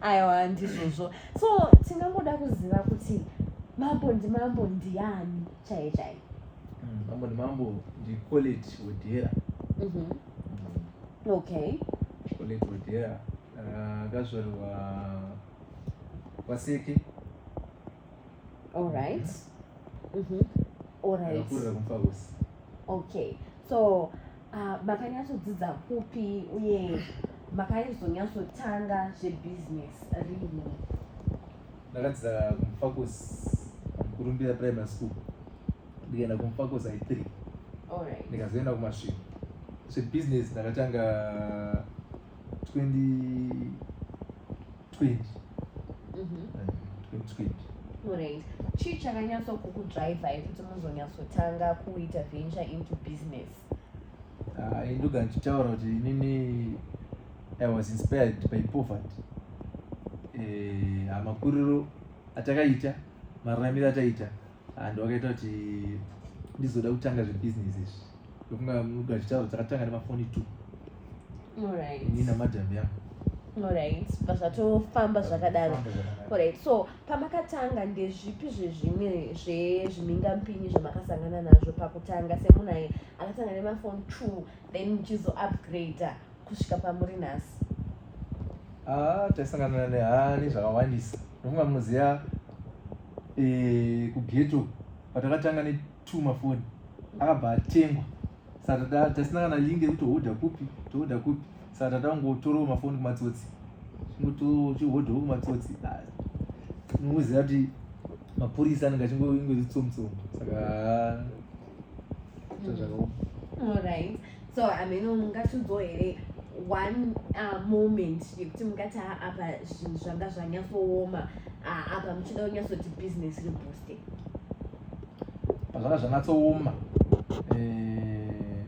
aiwa ndizvozvo so tingangoda kuziva kuti mambo ndimambo ndiani chaiye chaiye mm, mambo ndimambo ndicoleti wodhera mhm. mm. okay coleti wodhera ah, akazvarirwa kwaseke allright mm-hmm. mm-hmm. allright akurira kumfakosi okay so Ah, makanyatsodzidza kupi uye makanyazonyatsotanga zvebusiness rini ndakadzidza kumufacos kurumbira primary school ndikaenda kumufacos i three ndikazoenda kumasviko zvebusiness ndakatanga 20 20 mm-hmm. eh, Right. chii chakanyatsokukudraivai kuti muzonyatsotanga kuita venture into business ah, ndoga ndichitaura kuti inini i was inspired by poverty eh, makuriro atakaita mararamiro ataita and wakaita kuti ndizoda kutanga zvebusiness izvi ndokunga muga chitauro takatanga nemafoni two right. ini namadam yangu orit pazvatofamba zvakadaro orit so pamakatanga ndezvipi zvezvimwe zvezvimingampinyi zvamakasangana nazvo pakutanga semunhu aye akatanga nemafoni two then muchizoupgrader kusvika pamuri nhasi ah, taisangana nehani zvakawandisa nofunga munoziva eh, kughetto patakatanga ne two mafoni akabva atengwa saka tasina kana link yekuti hoda kupi tohoda kupi saka tatangotorawo mafoni kumatsotsi chihodawo kumatsotsi unongoziva kuti mapurisa anenge achingozitsomutsomu saka alright so ameno mungatunzwo here one uh, moment yekuti mungati ha apa zvinhu zvanga zvanyatsooma uh, apa muchida kunyatsoti business ribooste pazvanga zvanyatsooma eh,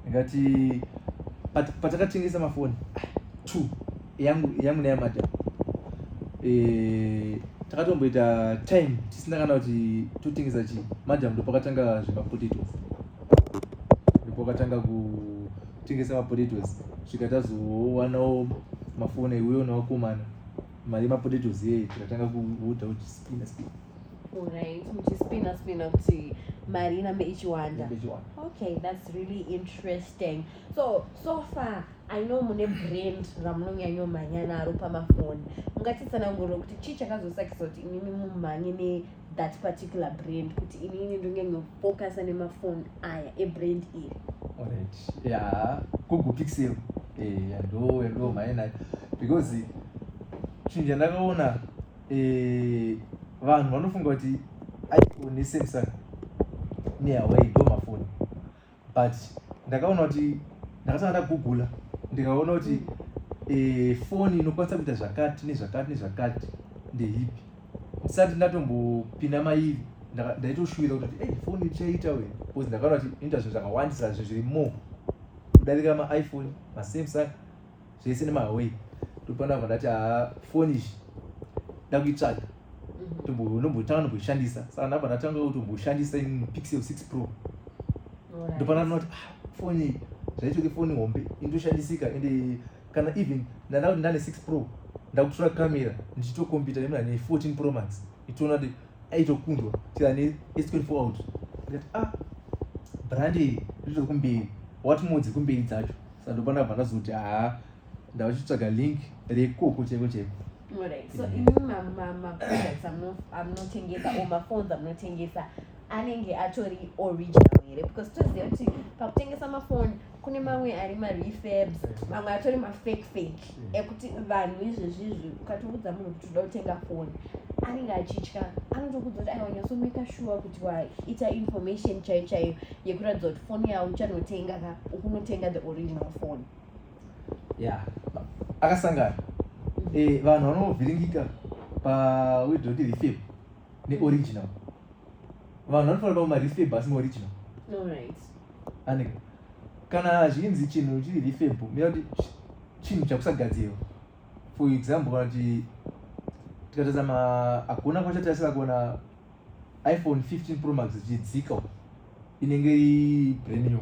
ndikati patakatengesa mafoni two yangu yangu neyamadam e, eh, takatomboita time tisina kana kuti totengesa chii madam ndopakatanga zvemapotatoes ndopakatanga kutengesa mapotatoes svika tazowanawo mafoni iweyo nawakomana mari yemapotatoes yeye tikatanga kuuta kuti spina spina Alright, muchispina spina kuti mari inambe ichiwanda. Okay, that's really interesting. So, so far I know mune brand ramunonyanyomhanya naro pamafoni. Mungatitsanangurira kuti chii chakazosakisa kuti imimi mumhanye ne that particular brand kuti inini ndonyanyofocusa nemafoni aya ebrand iri alright ya google pixel eh, ndo ndo mainayo because chinja ndakaona eh, vanhu vanofunga kuti iphone nesamsung nehuawei ndo mafoni but ndakaona kuti ndakatanga ndagugula ndikaona kuti eh, foni inokwanisa kuita zvakati nezvakati nezvakati ndehipi ndisati ndatombopinda mairi ndaitoshuwira kuti hey, foni ichaita we bcause ndakaona kuti inoita zvinhu zvakawandisa zve zviri more kudarika maiphone masamsung zvese nemahaway ndopana vandati haa foni izvi ndakuitsvaga ndombotanga nomboishandisa saka ndabva ndatanga kuti umboshandisa in pixel six pro ndopana ndinoti ah, foni zvaitoke foni hombe indoshandisika ende kana even ndanda kuti ndane six pro ndakutora camera ndichitokompita nemna ne fourteen pro max itoona aitokundwa chera ne s24 out ndikati ah brand iri riri kumberi what more dziri kumberi dzacho saka ndopana bva ndazoti haa ndava chitsvaga link rekoko chaiko chaiko Alright. So mm. even my, my, my products I'm not I'm not tengesa or my phones I'm not tengesa anenge atori original here because toziva kuti pakutengesa mafoni kune mamwe ari marefabs mamwe atori mafake fake mm. ekuti vanhu izvezvizvi ukatoudza munhu kuti uda kutenga foni anenge achitya anotokudza kuti aiwa nyasomeka shuwa kuti waita information chaiyo chaiyo yekuratidza kuti foni yavo uchanotenga ka ukunotenga the original foni ya akasangana mm. eh, vanhu vanovhiringika pawedoti refab neoriginal mm. vanhu vanofanira kuda marefab asi maoriginal anenge kana zvinzi chinhu chiri refab mira kuti chinhu chakusagadzirwa for example kana kuti tikatarisa ma hakuna kwachatarisira kuona iphone 15 pro max chidzika inenge ibremium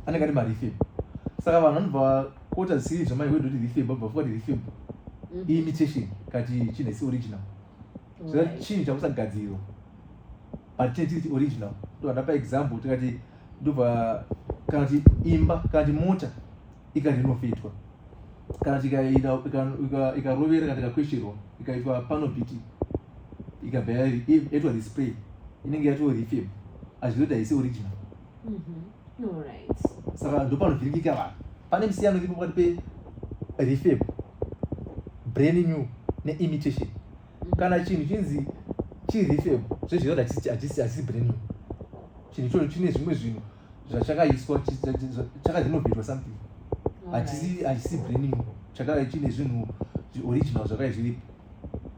anenge ati marefab saka vanhu vanobva kuota zisiri zvamai wedu kuti refab abva fuka kuti refab mm. imitation kati chinhu isi original zvina chinhu chakusagadzirwa but chine chiri original ndovandapa example tikati ndobva kana kuti imba kana kuti mota ikati inofitwa kana kuti ikarovera kana ikakwesherwa ikaitwa panobiti ikabva yaitwa display inenge yatoo refib azvizoita isi original mm-hmm. saka ndopanovhiringika vanhu pane musiyano iripo pakati perefab brain new neimitation mm-hmm. kana chinhu chinzi chirefab zvezvinoda hachisi brain new chinhu ichocho chine zvimwe zvinhu zvachakaiswa chakadinovetwa something hachisi brain new chakadai chine zvinhu original zvakadai zviripo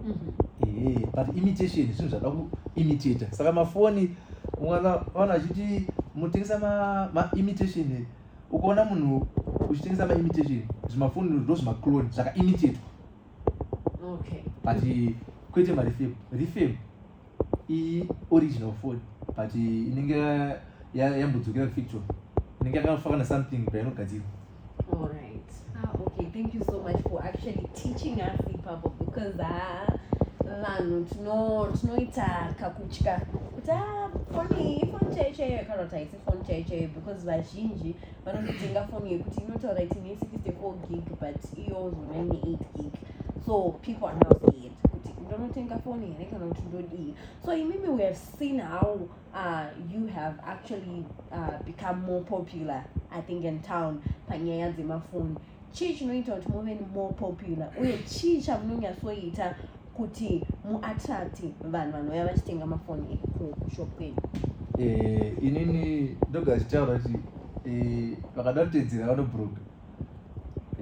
mm-hmm. but imitation zvinhu zvada kuimitata saka mafoni mwana vanhu vachiti mutengesa maimitation ukaona munhu uchitengesa maimitation zvimafoni ndo zvimaclone zvakaimitatwa but kwete marefem refem iyi original phone but inenge yambodzokera kufactory inenge yakafa kana something painogadzirwa alright ah, okay thank you so much for actually teaching us ipapo because ah, vanhu tinoita kakutya kuti ah, foni ifoni chaiyo chaiyo kana kuti haisi foni chaiyo chaiyo because vazhinji vanototenga foni yekuti inotaura iti ne 64 gig but iyo zona ne 8 gig so people are not kuti ndonotenga foni here kana kuti ndodii so imimi we have seen how uh, you have actually uh, become more popular i think in town panyaya dzemafoni chii chinoita kuti muve more popular uye chii chamunonyatsoita kuti muattracti vanhu vanouya vachitenga mafoni ekushop kwenyu eh, inini ndoga chitaura kuti eh, vakada kutedzera vanobroga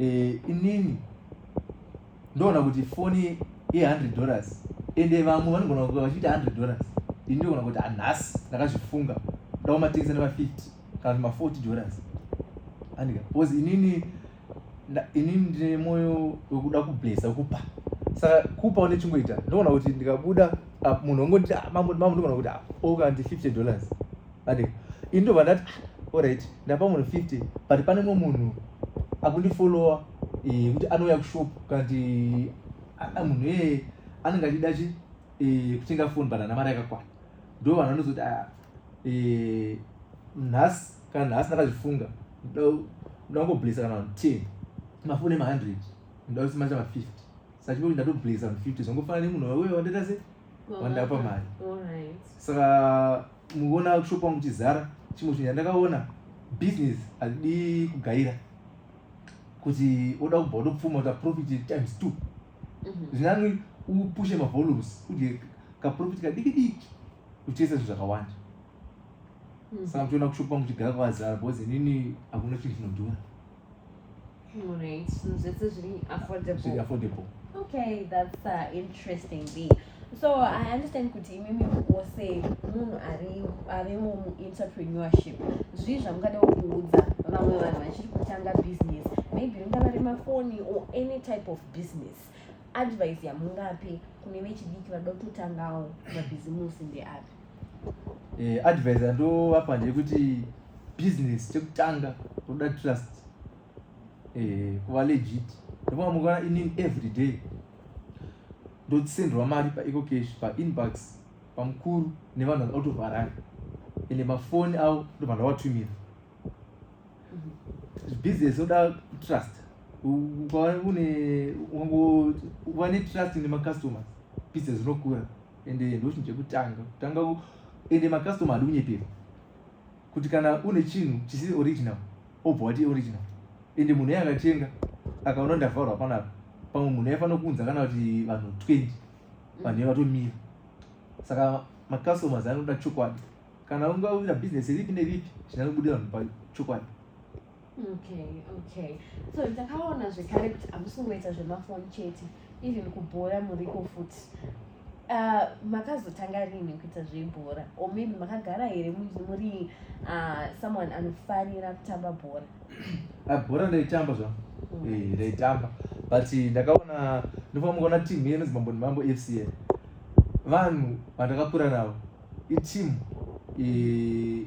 eh, inini ndoona kuti foni ye 100 dollars ende vamwe vanogona kuva vachiita 100 dollars ini ndogona kuti hanhasi ah, ndakazvifunga ndaomatengesa nema 50 kana kuti ma 40 dollars andika bcause inini inini ndine mwoyo wekuda kublesa kupa saka kupa une chingoita ndogona kuti ndikabuda ah, munhu wangonditi ah, mambo mambo ndogona kuti oka ndi 50 dollars but ini ndobva ndati ah, alright ndapa munhu 50 but pane mumwe munhu akundifollowa eh, kuti anouya kushop kati ah, ah, munhu iyeye anenge achida chi eh, kutenga foni but ana mari yakakwana ndo vanhu vanozoti nhasi kana nhasi ndakazvifunga ndangoblesa kana vanhu ten mafoni emahundred ndausimacha mafifty sachipo kuti ndatoblesa mufifty zvangofana nemunhu wauya wandaita se wandapa mari saka muona shop wangu chizara chimwe chinhu chandakaona business adii kugaira kuti oda kubva utopfuma uta profit times two mhm. zvinani upushe mavolumes udye kaprofit kadiki diki uchitesa zvinhu zvakawanda mhm. saka muchiona kushopa muchigara kwazara because inini hakuna chinhu chinodhura Alright, so zvese zviri affordable. Zviri affordable. Okay, that's uh, interesting. Be. So I understand kuti imimi wose munhu ari avemo muentrepreneurship zvii zvamungada kuudza vamwe vanhu vachiri kutanga business maybe ringava remafoni or any type of business advice yamungape kune vechidiki vada kutotangawo mabhizimusi ndeapi eh, advice yandovapa ndeyekuti business chekutanga toda trust eh, kuva legit ndofunga mukaona inin every day ndosenderwa mari paeco cash painbox pamukuru nevanhu vakatovharari ende mafoni avo ndo vanhu vavatumira mhm. business oda trust ukaone ukangovanetrust nemacustomers business inokura ende ndochinhu chekutanga kutanga ende makastoma hadi kunyeperwa kuti kana une chinhu chisiri original obva wati original ende munhu iye akatenga akaona ndavharwa panapa pamwe munhu aifanira kuunza kana kuti vanhu 20 vanhu iye vatomira saka macustomers anoda chokwadi kana ungawira business ripi neripi zvinanobuda vanhu pachokwadi okay okay so ndakaona zvekare kuti hamusi kungoita zvemafoni chete even kubhora muriko futi uh, makazotanga rini kuita zvebhora or maybe makagara here muri uh, someone anofarira kutamba bhora ah, bhora ndaitamba zva mm. eh, ndaitamba but ndakaona ndofamba kuona team yenonzi mambo nemambo f c a vanhu vandakakura navo iteam eh,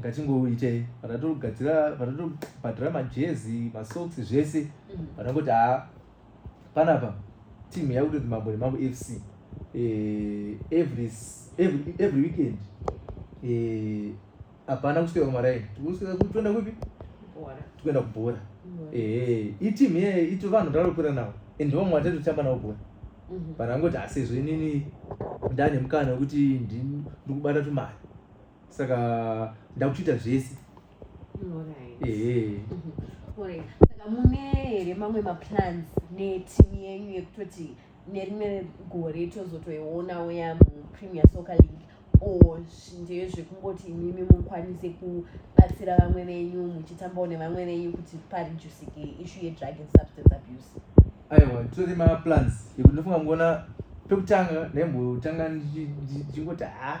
ngatingoitei vanatogadzira vanatobhadhira majezi masocks zvese mm. vanangoti haa panapa team yakutonzi mambo nemambo fc eh, every, every, every weekend eh, hapana kusvika kumaraini tikusvika kutoenda kupi tikuenda kubhora mm. eh, iteam iye ito vanhu ndalopera navo and ndivamwe vatatotamba navo bhora mm-hmm. vanangoti asezvo inini ndane mukana wekuti ndikubata tumari saka ndakuchiita zvese saka mune here mamwe maplans netimu yenyu yekutoti nerimwe gore tozotoionawo yamupremier soccer league or ndeye zvekungoti imimi mukwanise kubatsira vamwe venyu muchitambawo nevamwe venyu kuti parijusike ishu yedrug and substance abuse aiwa titori maplans yekuti ndofunga mukuona pekutanga ndaimbotanga ndichingoti ha ah,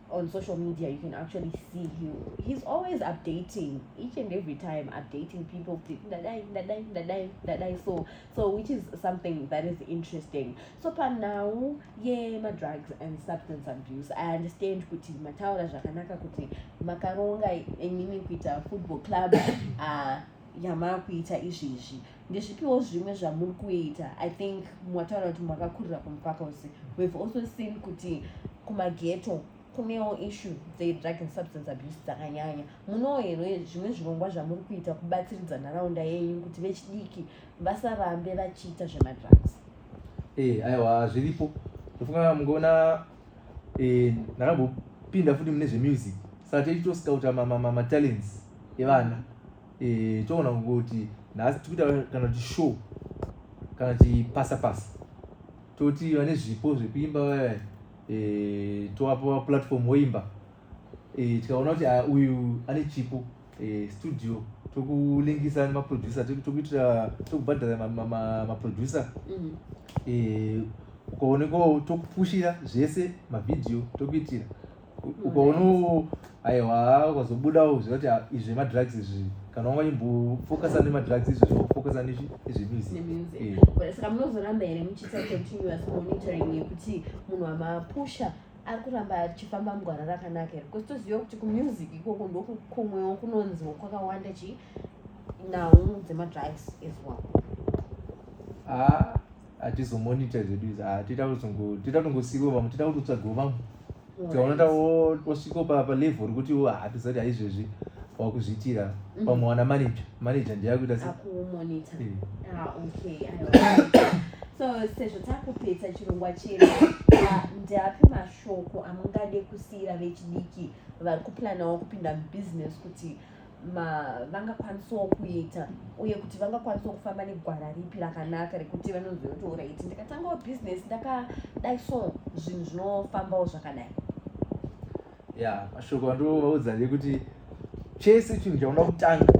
on social media you can actually see him he's always updating each and every time updating people dadai dadai dadai dadai so so which is something that is interesting so pa now ye ma drugs and substance abuse i understand kuti mataura zvakanaka kuti makaronga imimi kuita football club uh, yamakuita izvizvi ndezvipiwo zvimwe zvamuri kuita i think mwataura kuti makakurira kumupaka usi we've also seen kuti kumageto kunewo issue dzedrug and substance abuse dzakanyanya munowo here zvimwe zvirongwa zvamuri kuita kubatsiridza nharaunda yenyu kuti vechidiki vasarambe vachiita zvemadrugs ee eh, aiwa zviripo ndofunga mungoona eh, ndakambopinda futi mune zvemusic saka teitoscouta matalents evana eh toona kuti nhasi tikuita kana kuti show kana kuti pasa pasa toti vane zvipo zvekuimba vaya eh toapa platform woimba eh tikaona kuti ah, uyu ane chipo eh studio tokulingisa nemaproducer tokuitira tokubhadhara maproducer mm. eh ukaonekwawo tokupushira zvese mavhidhiyo tokuitira ukaono aiwa ukazobuda uziva kuti ah, izvi madrugs izvi kana wanga chimbofocusa nemadrugs izvi zvofocusa nezvemusaka munozoramba here muchiita continuous monitoring yekuti munhu amapusha ari kuramba achifamba mugwara rakanaka here because toziva kuti kumusic ikoko ndokumwewo kunonziwo kwakawanda chii nhau dzemadrugs as well ah, atizomonita zvedu izvi ah, tita kutongosiiwa vamwe tita kutotsvagiwo vamwe tikaona ta wasviko papa level rekuti ah, hatizati haizvezvi wakuzviitira mhm. pamwe wana manager manager ndiye akuita se eh. ah, so sezvo takupedza chirongwa chedu ndapi mashoko amungade kusiira vechidiki vari kuplanawo kupinda mubusiness kuti vangakwanisawo kuita uye kuti vangakwanisawo kufamba negwara ripi rakanaka rekuti vanonzi kuti orit ndikatangawo bhizinesi ndakadai so zvinhu zvinofambawo zvakadai ya mashoko andovaudza ndekuti chese chinhu chaunoda kutanga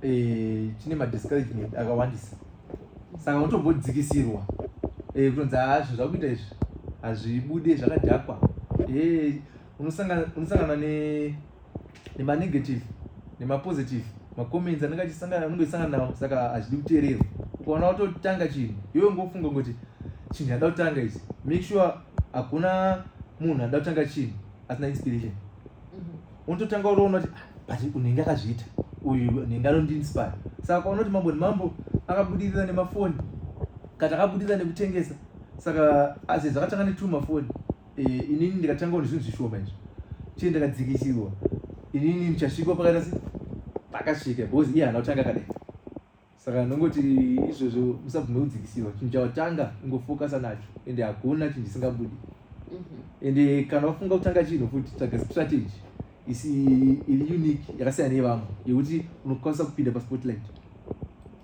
eh, chine madiscouragement akawandisa saka unotombodzikisirwa eh, kutonzi haa zvinhu zvakuita izvi hazvibude zvakadhakwa eh, unosangana ne nemanegative nemapositive macomments anenge achisangana anenge achisangana nawo saka hazvidi kuteererwa ukaona watotanga chinhu iwe ngofunga kuti chinhu yada kutanga ichi make sure hakuna munhu ada kutanga chinhu asina inspiration mhm. unototanga uroona kuti ah, but unenge akazviita uyu unenge anondiinspire saka ukaona kuti mambo nemambo akabudirira nemafoni kana akabudirira nekutengesa saka azezakatanga netuma foni e, inini ndikatangawo nezvinhu zvishoma izvi chii ndakadzikisirwa inini ndichasvikwa pakaita se pakasvika because iye hana kutanga kadai saka ndongoti izvozvo musabvume kudzikisirwa chinhu chawatanga ungofokasa nacho ende hakuna chinhu chisingabudi mhm. ende kana wafunga kutanga chinhu futi tsvaga strategy isi iri unique yakasiyana nevamwe yekuti unokwanisa kupinda paspotlight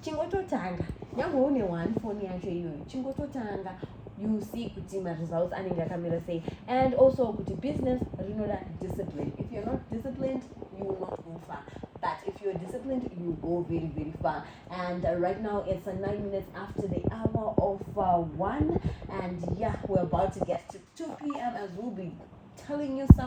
chingototanga nyange une one phone yacho iyoyo chingototanga you see kuti maresults anenge akamira sei and also kuti business rinoda discipline if you're not disciplined you will not go far but if you're disciplined you go very very far and uh, right now it's uh, nine minutes after the hour of uh, one and yeah we're about to get to 2 p.m as we'll be telling you some